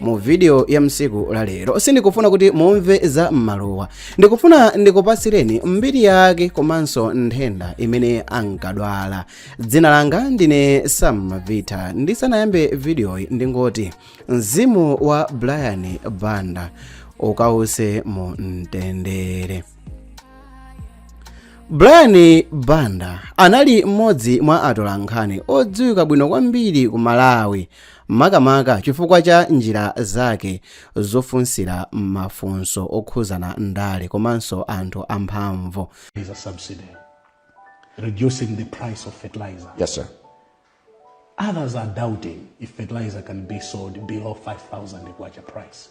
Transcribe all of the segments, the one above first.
mu video ya msiku la lero sindikufuna kuti mumve za mmalowa ndikufuna ndikupatsireni mbiri yake komanso nthenda imene ankadwala dzina langa ndine sam vita ndisanayambe videoyi ndingoti mzimu wa brian banda ukause mu mtendere brian banda anali mmodzi mwa atolankhani odziwika bwino kwambiri ku malawi makamaka chifukwa cha njira zake zofunsira mafunso okhudzana ndale komanso anthu amphamvu. is a subsidy, reducing the price of fertilizer. Yes, sir. Others are doubting if fertilizer can be sold below 5,000 kwacha price.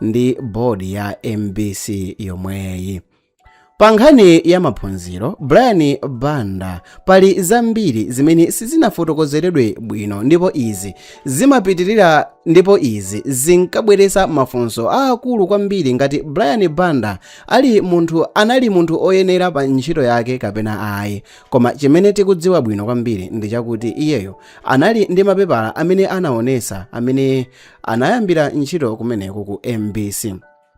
ndi board ya mbc yomweyi pa nkhani ya maphunziro brian banda pali zambiri zimene sizinafotokozeredwe bwino ndipo izi zimapitirira ndipo izi zinkabweretsa mafunso aakulu kwambiri ngati brian banda ali munthu anali munthu oyenera pa ntchito yake kapena ayi koma chimene tikudziwa bwino kwambiri ndi chakuti iyeyo anali ndi mapepala amene anaonesa amene anayambira ntchito kumeneko ku mbc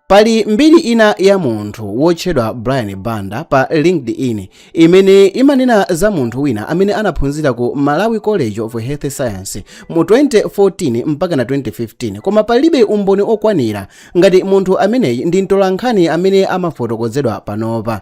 pali mbiri ina ya munthu wotchedwa brian banda pa linkedin imene imanena za munthu wina amene anaphunzira ku malawi college of health science mu 2014 mpaka na 2015 koma palibe umboni okwanira ngati munthu ameneyi ndi mtolankhani amene amafotokozedwa panopa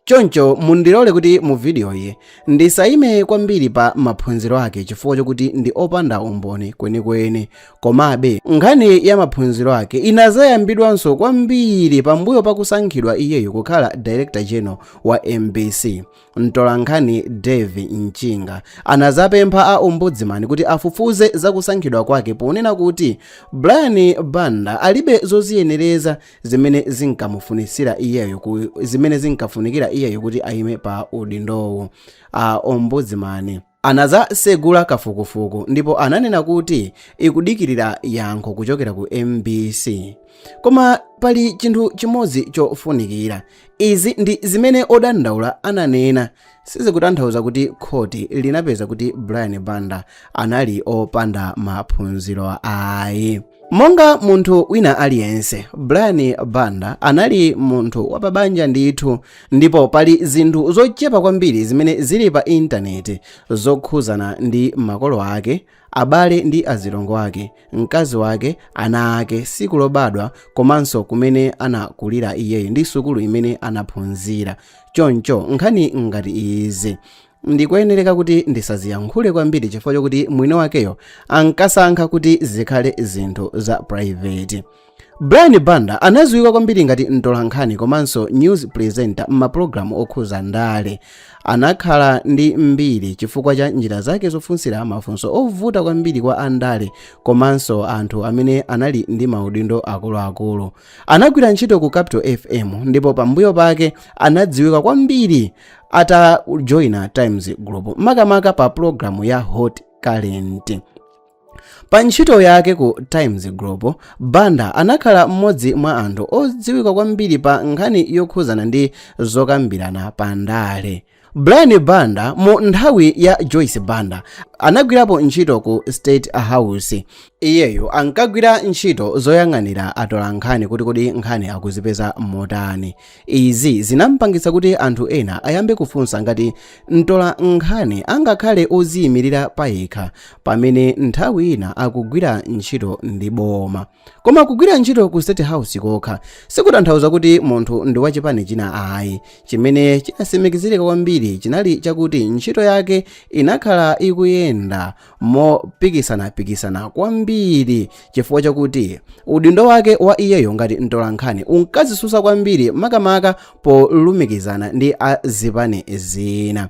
choncho mundilole kuti mu vidiyoyi ndisayime kwambiri pa maphunziro ake chifukwa chokuti ndi opanda umboni kwenikweni komabe nkhani ya maphunziro ake inazayambidwanso kwambiri pambuyo pakusankhidwa iyeyo kukhala director general wa mbc mtolankhani dave mchinga anazapempha a ombudsman kuti afufuze zakusankhidwa kwake ponena kuti brian banda alibe zoziyenereza zimene zinkamufunitsira iyeyo zimene zinkafunikira iyeyo kuti ayime pa udindowu a ombudsman anazasegula kafukufuku ndipo ananena kuti ikudikirira yankho kuchokera ku mbc koma pali chinthu chimodzi chofunikira izi ndi zimene odandaula ananena sizikutanthauza kuti khoti linapeza kuti brian banda anali opanda maphunziro ayi monga munthu wina aliyense brian banda anali munthu wapabanja ndithu ndipo pali zinthu zochepa kwambiri zimene zili pa intaneti zokhuzana ndi makolo ake Abale ndi azilongo ake, mkazi wake, ana ake, siku lobadwa komanso kumene anakulira iyeyo ndi sukulu imene anaphunzira. Choncho nkhani ngati izi ndikoyenereka kuti ndisaziyankhule kwambiri chifukwa chokuti mwini wakeyo ankasankha kuti zikhale zinthu za private. brian banda anadziwika kwambiri ngati mtolankhani komanso news presenter m'mapulogalamu okhuza ndale anakhala ndi mbiri chifukwa cha njira zake zofunsira mafunso ovuta kwambiri kwa andale komanso anthu amene anali ndi maudindo akuluakulu anagwira ntchito ku capital fm ndipo pambuyo pake anadziwika kwambiri atajoina times group makamaka pa pulogalamu ya hot current Pa ntchito yake ku Times Group, Banda anakhala mmodzi mwa anthu odziwika kwambiri pa nkhani yokhuzana ndi zokambirana pa ndale. Brian Banda mu nthawi ya Joyce Banda anagwirapo ntchito ku State House. Iyeyo ankagwira ntchito zoyang'anira atolankhani kuti kodi nkhani akuzipeza motani. Izi zinampangitsa kuti anthu ena ayambe kufunsa ngati mtolankhani angakhale oziyimirira payekha pamene nthawi ina akugwira ntchito ndi boma. Koma kugwira ntchito ku State House kokha sikutanthauza kuti munthu ndi wachipani china ayi. Chimene chinatsimikizirika kwambiri chinali chakuti ntchito yake inakhala ikuyenda mopikisana-pikisana kwambiri chifukwa chakuti udindo wake wa iyeyo ngati mtolankhani unkadzitsutsa kwambiri makamaka polumikizana ndi a zipani zina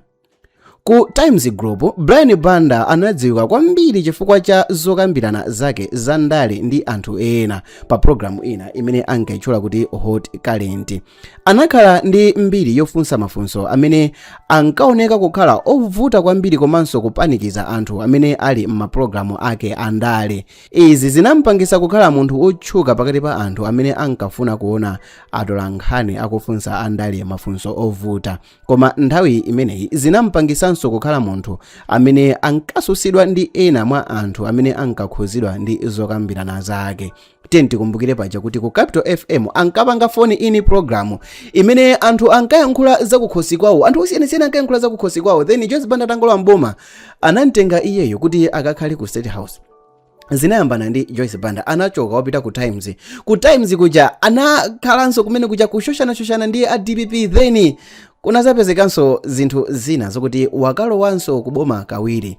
ku times group brian banda anadziwika kwambiri chifukwa cha zokambirana zake za ndale ndi anthu ena pa programu ina imene ankayitchula kuti hot current Anakhala ndi mbiri yofunsa mafunso amene ankaoneka kukhala ovuta kwambiri komanso kupanikiza anthu amene ali m'mapulogalamu ake a ndale. Izi zinampangitsa kukhala munthu wotchuka pakati pa anthu amene ankafuna kuona atolankhani akufunsa andale mafunso ovuta. Koma nthawi imeneyi zinampangitsanso kukhala munthu amene ankatsutsidwa ndi ena mwa anthu amene ankakhuzidwa ndi zokambirana zake. tiyeni tikumbukire paja kuti ku capital fm ankapanga phone in programu imene anthu ankayankhula zakukhosi kwawo anthu osiyanasiyana ankayankhula zakukhosi kwawo then joyce banda atangolowa mboma anamtenga iyeyo kuti akakhale ku state house zinayambana ndi joyce banda anachoka wapita ku times ku times kuja anakhalanso kumene kuja kushoshana-shoshana ndi a dpp then kunazapezekanso zinthu zina zokuti wakalowanso kuboma kawiri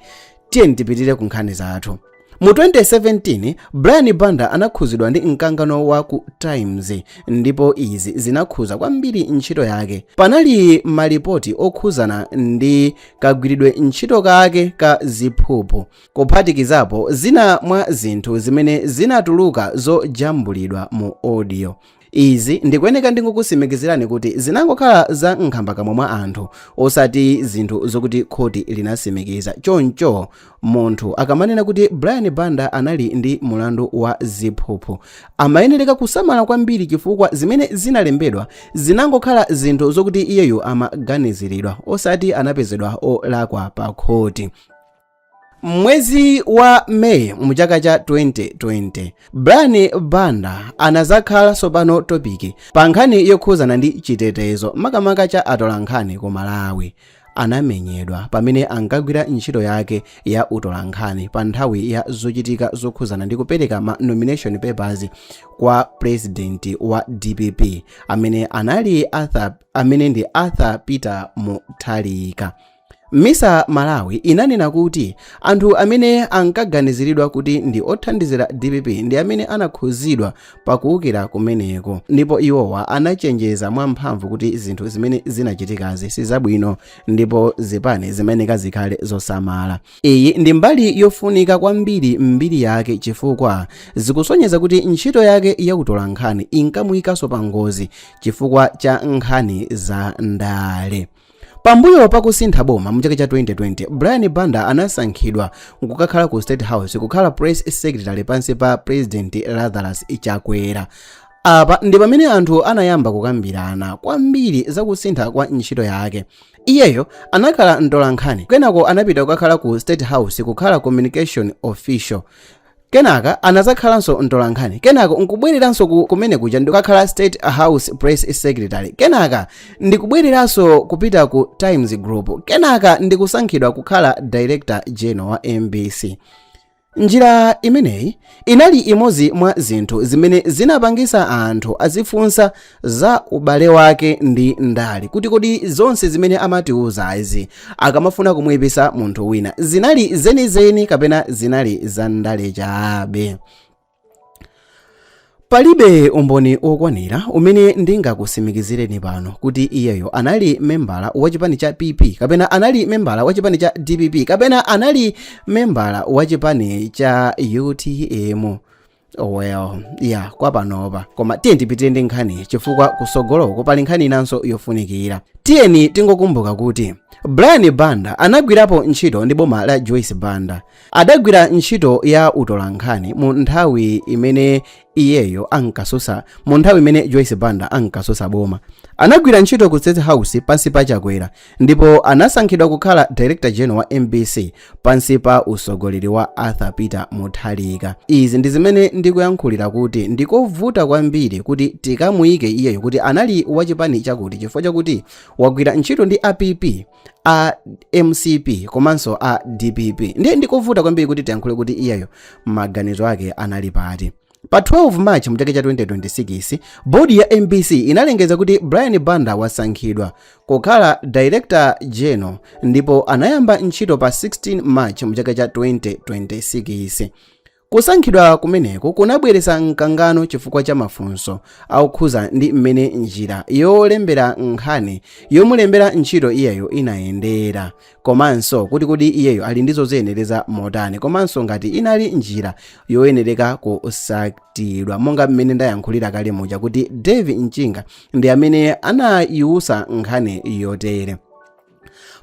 tiyeni tipitire ku nkhani zathu Mu 2017, Brian Banda anakhuzidwa ndi mkangano wa ku Times ndipo izi zinakhuza kwambiri ntchito yake. Panali malipoti okhuzana ndi kagwiridwe ntchito kake ka ziphuphu, kuphatikizapo zina mwa zinthu zimene zinatuluka zojambulidwa mu audio. Izi ndikuyeneka ndingokusimikizirani kuti zinangokhala za nkhambakamwa mwa anthu osati zinthu zokuti khoti linasimikiza. Choncho munthu akamanena kuti Brian Banda anali ndi mulandu wa ziphuphu, amayenereka kusamala kwambiri chifukwa zimene zinalembedwa zinangokhala zinthu zokuti iyeyo amaganiziridwa osati anapezedwa olakwa pa khoti. M'mwezi wa May mu chaka cha 2020, Brian Banda anazakhala tsopano topiki pa nkhani yokhuzana ndi chitetezo makamaka cha atolankhani ku Malawi. Anamenyedwa pamene ankagwira ntchito yake ya utolankhani pa nthawi ya zochitika zokhuzana ndi kupereka ma nomination papers kwa president wa DPP amene anali, amene ndi Arthur Peter Mutharika. MISA Malawi inanena kuti anthu amene ankaganiziridwa kuti ndi othandizira dpp ndi amene anakhuzidwa pa kuukira kumeneko ndipo iwowa anachenjeza mwamphamvu kuti zinthu zimene zinachitikazi si zabwino ndipo zipani zimayeneka zikhale zosamala. Iyi ndi mbali yofunika kwambiri m'mbiri yake chifukwa zikusonyeza kuti ntchito yake ya utolankhani inkamuyikanso pa ngozi chifukwa cha nkhani za ndale. Pambuyo pa kusintha boma mu chaka cha 2020, Brian Banda anasankhidwa kukakhala ku State House kukhala press secretary pansi pa President Lazarus Chakwera. Apa ndi pamene anthu anayamba kukambirana kwambiri za kusintha kwa ntchito yake. Iyeyo anakhala mtolankhani, kenako anapita kukakhala ku State House kukhala communication official. kenaka anadzakhalanso mtolankhani kenako nkubwereranso kumene kuja ndikukakhala state house press secretary kenaka ndikubwereranso kupita ku times group kenaka ndikusankhidwa kukhala director general wa mbc njira imeneyi inali imodzi mwa zinthu zimene zinapangisa anthu azifunsa za ubale wake ndi ndale kuti kodi zonse zimene amatiuzazi akamafuna kumuyipisa munthu wina zinali zenizeni kapena zinali za ndale chabe palibe umboni wokwanira umene ndingakusimikizireni pano kuti iyeyo anali membala wa chipani cha pp kapena anali membala wa chipani cha dpp kapena anali membala wa chipani cha utm Oh well ya kwa panopa koma tiyeni tipitire ndi nkhani chifukwa kusogoloko pali nkhani inanso yofunikira tiyeni tingokumbuka kuti brian banda anagwirapo ntchito ndi boma la joyce banda adagwira ntchito ya utolankhani mu nthawi imene iyeyo ankasusa mu nthawi imene joyce banda ankasusa boma anagwira ntchito ku state house pansi pa chakwera ndipo anasankhidwa kukhala director general wa mbc pansi pa usogoleri wa arthur peter mutharika izi ndi zimene ndikuyankhulira kuti ndikovuta kwambiri kuti tikamuyike iyeyo kuti anali wachipani chakuti chifukwa chakuti wagwira ntchito ndi a pp a mcp komanso a dpp ndiye ndikovuta kwambiri kuti tiyankhule kuti iyeyo maganizo ake anali pati Pa 12 March mu chaka cha 2026, bodi ya mbc inalengeza kuti Brian Banda wasankhidwa kukhala Director General ndipo anayamba ntchito pa 16 March mu chaka cha 2026. Kusankhidwa kumeneku kunabweretsa mkangano chifukwa cha mafunso okhuza ndi mmene njira yolembera nkhani yomulembera ntchito iyeyo inayendera. komanso kuti kodi iyeyo ali ndi zoziyenereza motani komanso ngati inali njira yoyenereka kusatidwa monga mmene ndayankhulira kale muja kuti dave mchinga ndi amene anayiwusa nkhani yotere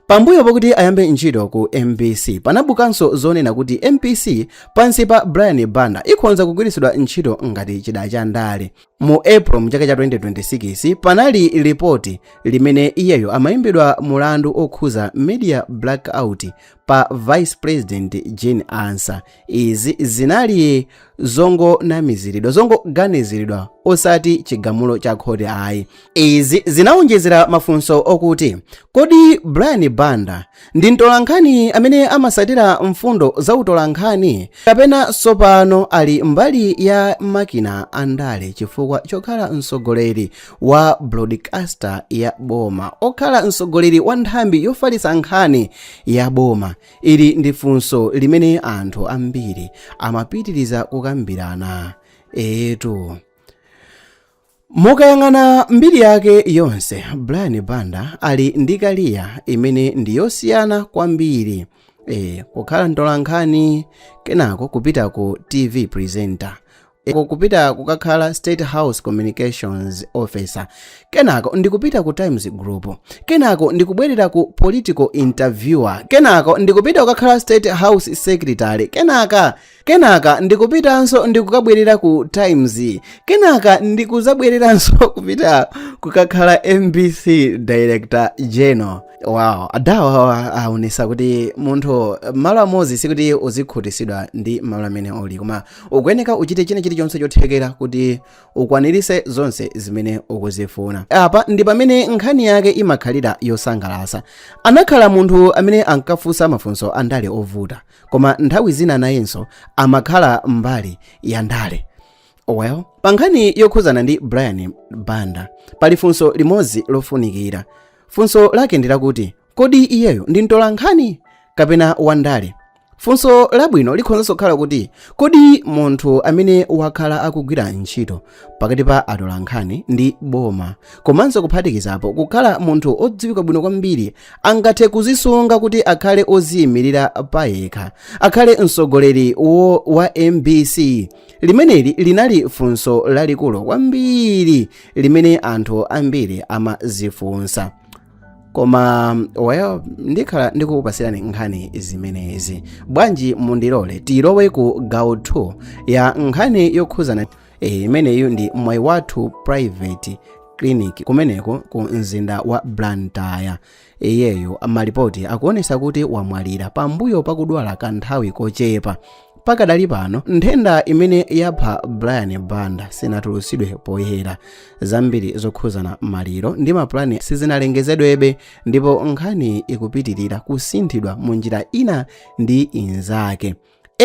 pambuyo pakuti ayambe ntchito ku mbc panabukanso zonena kuti mbc pansi pa brian banda ikhonza kugwiritsidwa ntchito ngati chida cha ndale mu april mchaka cha 2026 panali lipoti limene iyeyo amayimbidwa mulandu okhuza media blackout pa vice president jane ansah izi zinali zongonamiziridwa zongoganiziridwa osati chigamulo cha khoti ayi Izi zinawonjezera mafunso okuti, Kodi Brian Banda ndi mtolankhani amene amasatira mfundo za utolankhani kapena sopano ali mbali ya makina a ndale chifukwa chokhala mtsogoleri wa broadcaster ya boma, okhala mtsogoleri wa nthambi yofalitsa nkhani ya boma? Ili ndi funso limene anthu ambiri amapitiriza kukambirana. Eetu. Mukayang'ana mbiri yake yonse, Brian Banda ali ndi kaliya imene ndi yosiyana kwambiri. E, kukhala mtolankhani, kenako kupita ku TV presenter, e, kupita kukakhala State House Communications Officer, kenako ndikupita ku Times Group, kenako ndikubwerera ku political interviewer, kenako ndikupita kukakhala State House Secretary, kenaka kenaka ndikupitanso ndikukabwerera ku times kenaka ndikuzabwereranso kupita kukakhala mbc director general wow adawa aonesa kuti munthu malo amodzi sikuti uzikhutisidwa ndi malo amene uli koma ukuyeneka uchite china chilichonse chothekera kuti ukwanirise zonse zimene ukuzifuna apa ndi pamene nkhani yake imakhalira yosangalasa anakhala munthu amene ankafunsa mafunso andale ovuta koma nthawi zina nayenso amakhala mbali ya ndale well pa nkhani yokhuzana ndi brian banda pali funso limodzi lofunikira funso lake ndi lakuti kodi iyeyo ndi mtolankhani kapena wandale funso labwino likhonzanso kukhala kuti kodi munthu amene wakhala akugwira ntchito pakati pa atolankhani ndi boma komanso kuphatikizapo kukhala munthu odziwika bwino kwambiri angathe kuzisunga kuti akhale oziyimirira payekha akhale mtsogoleri wo wa mbc limeneli linali funso lalikulu kwambiri limene anthu ambiri amazifunsa koma well ndikhala ndikukupasirani nkhani zimenezi bwanji mundilole tilowe ku gawo 2 ya nkhani yokhuzana eh, imeneyu ndi mwaiwathu private clinic kumeneko ku mzinda wa blantyre iyeyo malipoti akuonesa kuti wamwalira pambuyo pakudwala kanthawi kochepa pakadali pano nthenda imene yapha brian banda sinatulutsidwe poyera zambiri zokhuzana maliro ndi mapulani sizinalengezedwebe ndipo nkhaniyi ikupitirira kusinthidwa mu njira ina ndi inzake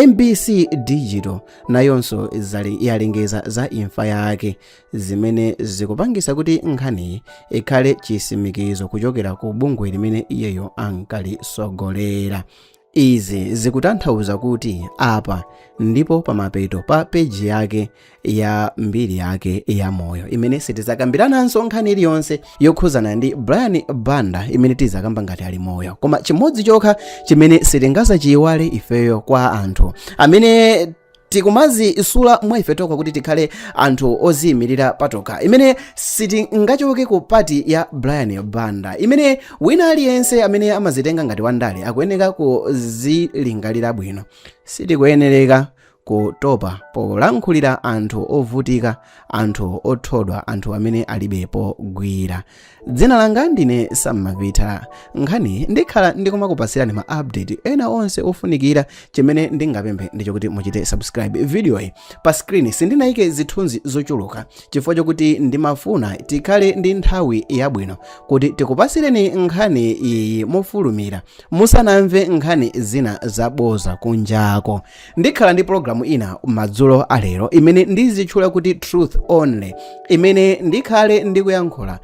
mbc digital nayonso zali- yalengeza za imfa yake zimene zikupangisa kuti nkhaniyi ikhale chisimikizo kuchokera ku bungwe limene iyeyo ankalisogolera Izi zikutanthauza kuti apa ndipo pamapeto pa peji yake ya mbiri yake ya moyo imene sitizakambirananso nkhani iliyonse yokhuzana ndi Brian Banda imene tizakamba ngati ali moyo koma chimodzi chokha chimene sitingazachiyiwale ifeyo kwa anthu amene tikumazisula mwa ife tokha kuti tikhale anthu oziyimirira patokha imene sitingachoke ku pati ya brian banda imene wina aliyense amene amazitenga ngati wandale akuyeneka kuzilingalira bwino sitikuyenereka kutopa polankhulira anthu ovutika anthu othodwa anthu amene alibe pogwira dzina langa ndine sam mapita nkhaniyi ndikhala ndikumakupasirani ma update ena onse ofunikira chimene ndingapemphe ndi chokuti muchite subscribe videoyi pa screen sindinayike zithunzi zochuluka chifukwa chokuti ndimafuna tikhale ndi nthawi yabwino kuti tikupasireni nkhani iyi mofulumira musanamve nkhani zina zaboza kunjako Ndikhala ndi programu ina madzulo a lero imene ndizitchula kuti Truth Only imene ndikhale ndikuyankhula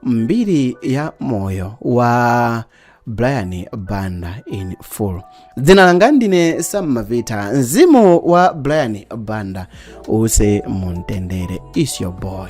mbiri ya moyo wa Brian Banda in full. Dzina langa ndine Sam Mavita, mzimu wa Brian Banda use mumtendere. It's your boy.